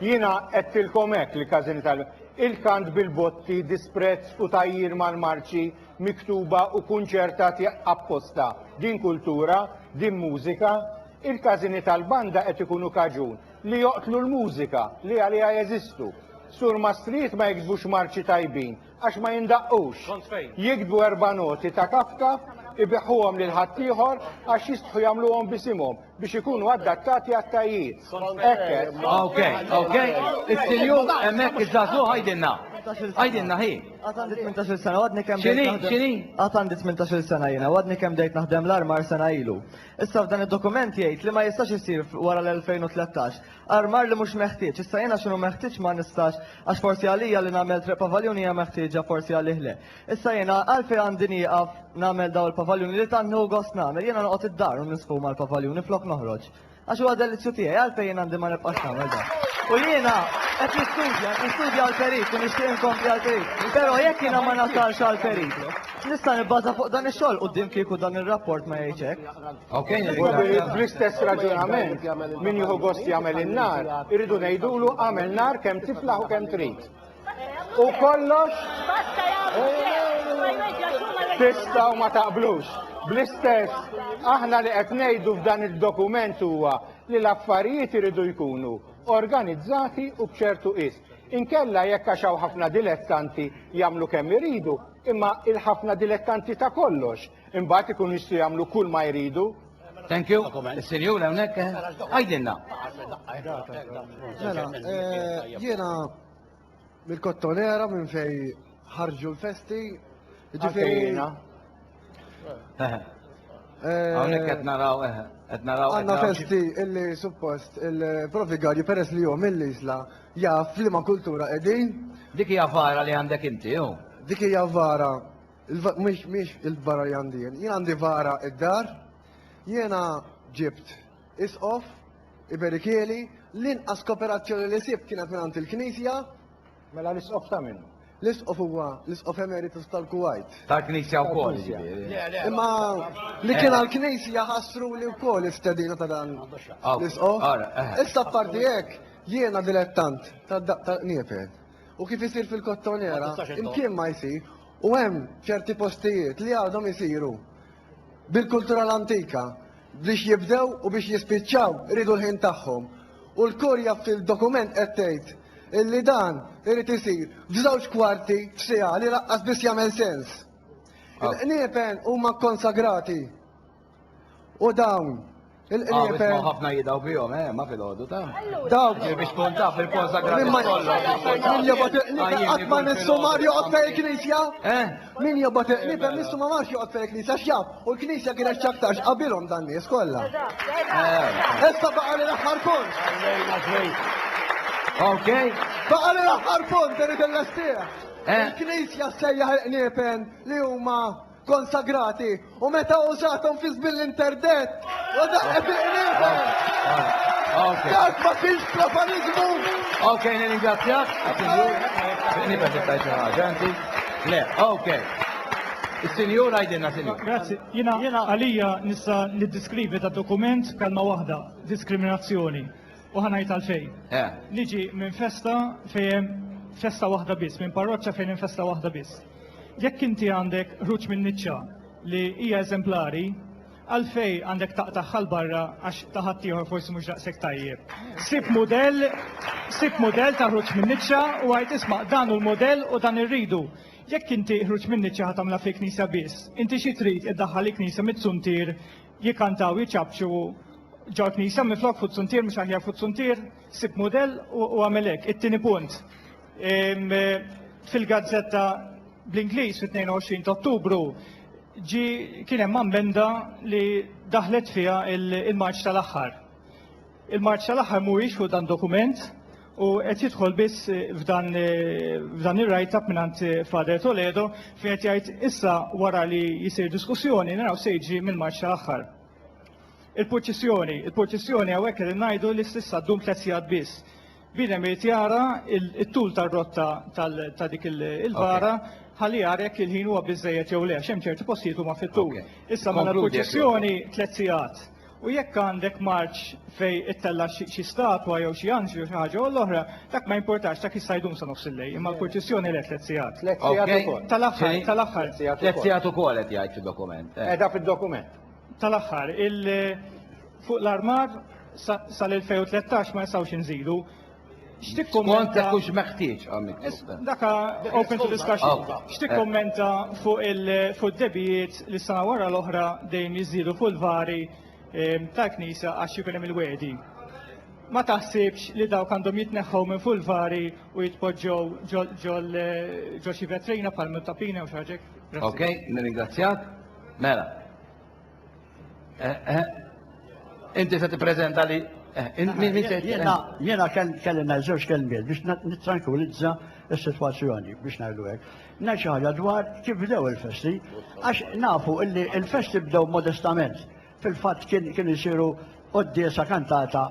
Jiena għedtilkom hekk, li każini tal. Il-kant bil-botti, disprezz u tgħajjir mal-marċi miktuba u kunċertati apposta, din kultura, din mużika? Il-każini tal-banda qed ikunu kaġun li joqtlu l-mużika li għaliha jeżistu. Surmastrijiet ma jiktbux marċi tajbin, Għax ma jindaqqux. Jiktbu erba' noti ta' Kafka, ibiħuhom lil ħaddieħor għax jistħu jagħmluhom b'isimhom biex ikunu addattati għat-tajjiet. Hekk. Ok, ok. Is-sinjur hemmhekk iż-żagħżugħ għidilna. Għidilna hi. Għad għandi 18-il sena, għadni kemm X'inhi? X'inhi? Għad għandi 18-il sena jiena, għadni kemm bdejt naħdem l-armar sena ilu. Issa f'dan id-dokument jgħid li ma jistax isir wara l-2013 Armar li mhux meħtieġ. Issa jiena x'inhu meħtieġ ma nistax għax forsi għalija li nagħmel treq pavaljuni hija meħtieġa forsi għalih le. Issa jiena għalfejn għandi nieqaf nagħmel dawn il-pavaljuni li tant nieħu gost nagħmel. Jiena noqgħod id-dar u nisfu mal-pavaljuni flok noħroġ. Għax huwa delizzju tiegħi għalfejn jien għandi ma nibqax nagħmel dan. U jiena qed nistudja, qed nistudja għall-perit u nixtieq inkompli għall-perit. Però jekk jiena ma nasalx għall-perit, nista' nibbaża fuq dan ix-xogħol quddiem kieku dan ir-rapport ma jgħidx hekk. Bl-istess raġunament, min jieħu gost jagħmel in-nar, irridu ngħidulu għamel nar kemm tiflaħ u kemm trid. U kollox tista' u ma taqblux. Bl-istess, aħna li qed ngħidu f'dan id-dokument huwa li l-affarijiet iridu jkunu organizzati u b'ċertu qis. Inkella jekk għax hawn ħafna dilettanti jagħmlu kemm iridu, imma il-ħafna dilettanti ta' kollox Imbagħad ikunu jistgħu jagħmlu kull ma jridu. Thank you. Is-sinjur hawnhekk eh, għajdilna. Mela, eh, jiena mill-kottonera minn fej ħarġu l-festi. Ġifieri. Hawnhekk qed naraw eh, qed naraw. Għandna festi illi suppost il-profigarju peress li jom mill-isla jaf li ma kultura qegħdin. Dik hija vara li għandek inti, jew? Dik hija vara Mhix mhix il-vara li għandi jien. Jien għandi vara id-dar. Jiena ġibt isqof, iberikieli, l-inqas kooperazzjoni li sibt kienet minn għand il-Knisja. Mela l-isqof ta' min? L-isqof huwa l-isqof emeritus tal-Kuwait. Tal-Knisja wkoll. Imma li kien għall-Knisja ħassru li wkoll istedina ta' dan l-isqof. Issa parti hekk jiena dilettant ta' daqqa qniepen. u kif isir fil-kottonera, imkien ma jsir, u hemm ċerti postijiet li għadhom isiru bil-kultura l-antika biex jibdew u biex jispiċċaw iridu l-ħin tagħhom. U l-kurja fil-dokument qed tgħid illi dan irid isir f'żewġ kwarti f'siegħa li laqqas biss jagħmel sens. Il-qniepen huma kkonsagrati. U dawn Ah, wisma il-qniepen ħafna jidaw bihom, eh, ma fil-ħodu ta'. dawk Ġej biex tkun taf il-konsagrati Min ma- kollha. min jobot il-qniepen qatt ma nissu mar joqgħod fejn il-knisja. Eh? Min jobot il-qniepen nissu ma marx joqgħod fejn il-knisja x'jaf. U l-knisja kienet x'aktarx qabilhom dan nies kollha. Eh. Issa baqa' li l-aħħar punt. Ok. Baqa' li l-aħħar punt irid illestih. Eh. Il-knisja sejjaħ il-qniepen li huma konsagrati u meta użathom fi żmien l-interdett u daqqet il-qnieżel. Dak ma kienx profaniżmu. Ok, nirringrazzjak. Nibgħet nittajt xi ħaġa inti. Le, ok. Is-sinjur għajdilna sinjur. Grazzi. Jiena jiena għalija nista' niddiskrivi ta' dokument kalma waħda, diskriminazzjoni. U ħanajt għalfejn. Eh. Niġi minn festa fejn festa waħda biss, minn parroċċa fejn hemm festa waħda biss. Jekk inti għandek ħruġ min-niċċa li hija eżemplari, għalfejn għandek taqtagħha 'l barra għax ta' ħaddieħor forsi mhux daqshekk tajjeb? Sib mudell, sib mudell ta' ħruġ min-niċċa u għid isma' dan hu l-mudell u dan irridu. Jekk inti ħruġ min-niċċa ħa tagħmilha fil-knisja biss, inti xi trid iddaħħal il-knisja mit-zuntier jikkantaw jiċapċu ġo l-knisja minflok fuq zuntier mhux aħjar fuq zuntier? Sib mudell u għamel hekk. It-tieni punt, Fil-gazzetta bl-Ingliż fit-22 ta' Ottubru ġi kien hemm ammenda li daħlet fiha il-Marċ tal-aħħar. Il-Marċ tal-aħħar mhuwiex fuq dan dokument u qed jidħol biss f'dan f'dan ir-write up mingħand Father Toledo fejn qed jgħid issa wara li jsir diskussjoni naraw se jiġri mill-Marċ tal-aħħar. Il-purċissjoni, il-purċissjoni hawnhekk qegħdin ngħidu li s'issa ddum tliet sigħat biss. Bniedem irid jara t-tul tar-rotta ta' dik il-bara ħalli jara jekk il-ħin huwa biżżejjed jew le, għax hemm ċerti postijiet huma fit-tul. Issa mela l-purċissjoni tliet sigħat. U jekk għandek marċ fejn ittella' xi statwa jew xi anġlu jew xi ħaġa jew l-oħra, dak ma jimpurtax, dak jista' jdum sa nofs il-lejl, imma l-purċissjoni le tliet sigħat. Tliet sigħat ukoll. Tal-aħħar, tal-aħħar. Tliet sigħat ukoll qed jgħid fid-dokument. Qiegħda fid-dokument. tal-aħħar, fuq l-armar sal-2013 ma nistgħux inżidu. Skont dak hux meħtieġ Daka open to discussion. X'tikkummenta fuq il-debijiet li sena wara l-oħra dejjem jiżdiedu fuq il-vari ehm, tal-Knisja għax jkun hemm il-wedi. Ma taħsibx li dawk għandhom jitneħħu minn fuq il-vari u jitpoġġew ġol ġo xi vetrina bħal tapina u xi ħaġa. Ok, nirringrazzjak. Mela. Eh, eh. Inti se tippreżenta li eh, Jena kelli nażewġ kelmiet biex nitrankulizza s-situazzjoni biex najdu għek. Naċi ħagġa dwar kif bdew il-festi, għax nafu illi il-festi bdew modestament. Fil-fat kien jisiru għoddiesa kantata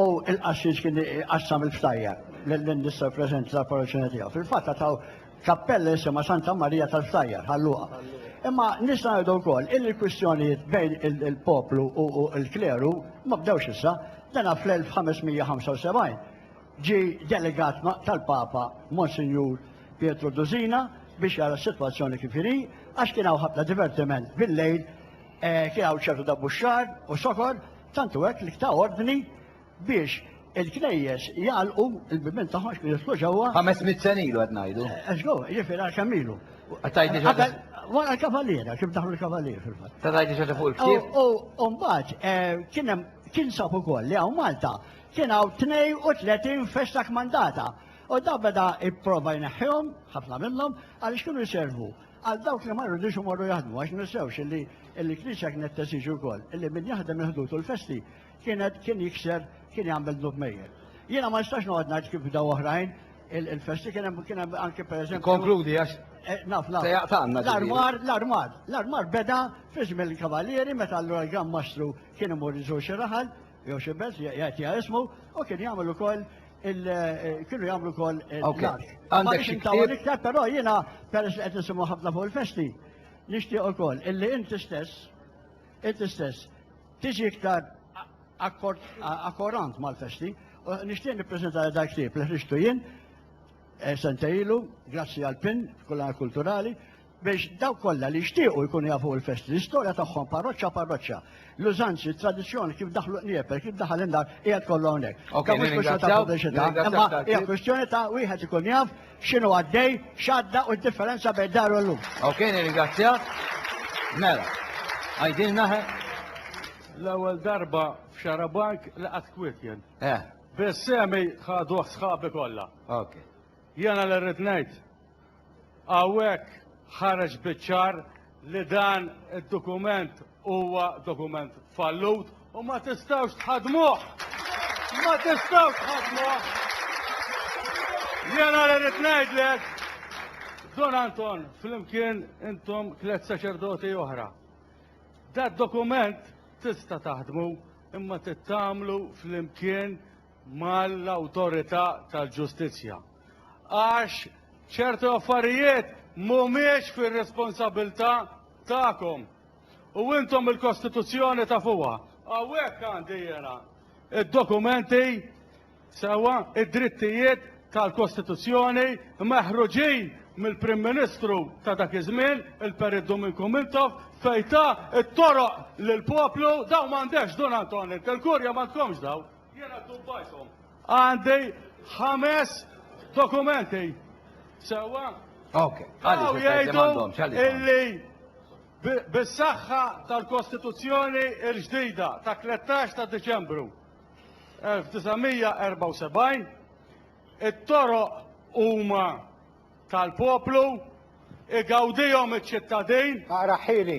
u il-qassis kien qassam il-ftajja l-indistra prezenti tal-parroċina tiegħu. Fil-fatt taw Kappella jisimha Santa Marija tal-Ftajjar, Ħal Luqa. Imma nista' ngħidu wkoll illi l-kwistjonijiet bejn il-poplu u l-kleru ma bdewx issa, dana fl-1575 ġie delegat tal-Papa Monsinjur Pietru Dusina biex jara s-sitwazzjoni kif inhi, għax kien hawn ħafna divertiment bil-lejl, kien hawn ċertu dabbuxxar u sokor, tant hu hekk li ta ordni biex il-knejjes jagħlqu l-bibien tagħhom għax kien jidħlu ġewwa. Ħames mitt sen ilu qed ngħidu. Eżgo, eh, jiġifieri għal kemm ilu. Tajti ġodda. Wara l-kavaliera, kif daħlu l-kavaliera fil-fatt. Ta' tajti ġodda fuq il-ktieb. U mbagħad eh, kien hemm kien sab ukoll li hawn Malta kien hawn 32 festa kmandata. U da beda ipprova jneħħihom, ħafna minnhom, għaliex kienu jservu għal dawk li marru diġu marru jaħdmu, għax nissewx illi il-knisja kienet tesiġu wkoll, illi min jaħdem il-ħdut u l-festi kienet kien jikser kien jagħmel dnub mejjel. Jiena ma nistax noqgħod ngħid kif bdew oħrajn il-festi kien hemm kien hemm anke pereżempju. Konkludi għax eh, naf naf. L-armar, l-armar, l-armar beda fi żmien il-kavalieri meta allura l-gran mastru kien imur iżur xi raħal jew xi belt jgħid ismu u kien jagħmel ukoll Eh, kienu jagħmlu kol eh, l-għax. Għandek xi ktieb. Iktar però jiena peress li qed nisimgħu ħafna fuq il-festi, nixtieq ukoll illi inti stess, inti stess Tiġi iktar akkorant mal-festi. U nixtieq nippreżenta li dal-ktieb li ħriġtu jien eh, sentej ilu, grazzi għal pin f'kullana kulturali, biex daw kollha li jixtiequ jkunu jafu l-festi, l-istorja tagħhom parroċċa parroċċa, l-użanzi, tradizzjoni kif daħlu qnieper, kif daħal indar, qiegħed kollu hawnhekk. Imma hija kwestjoni ta' wieħed ikun jaf X'inhu għaddej, x'għadda u d-differenza bejn dar u llum. Ok, nirringrazzjak. Mela, għajdilna ħe. L-ewwel darba f'Xarabajk li qatt kwiet jien. Eh. Biss semi ħaduh sħabi kollha. Ok. Jiena li rrid ngħid. Hawnhekk ħareġ biċ-ċar li dan id-dokument huwa dokument fallut u ma tistgħux tħadmuh. Ma tistgħux tħadmuh. Jena li rrid ngħidlek, Don Anton, flimkien intom tliet saċerdoti oħra. Dad dokument tista' taħdmu imma tittamlu flimkien mal-awtorità tal-ġustizzja għax ċertu affarijiet mhumiex fir-responsabbiltà tagħkom u intom il-Kostituzzjoni tafuha. Hawnhekk għandi jiena id-dokumenti sewwa id-drittijiet tal-Kostituzzjoni meħruġin mill-Prim Ministru ta' dak iż-żmien, il-Perit Duminku Mintoff, fejn ta' t-toroq lill-poplu dawn m'għandekx Dun Anton, il-kurja m'għandkomx dawn. Jiena ddubbajthom. Għandi ħames dokumenti. Sewwa? Ok. Għaliex jgħidu illi bis-saħħa tal-Kostituzzjoni l-ġdida ta' 13 ta' Diċembru 1974 it-toroq huma tal-poplu igawdihom iċ-ċittadin. Aqra ħili.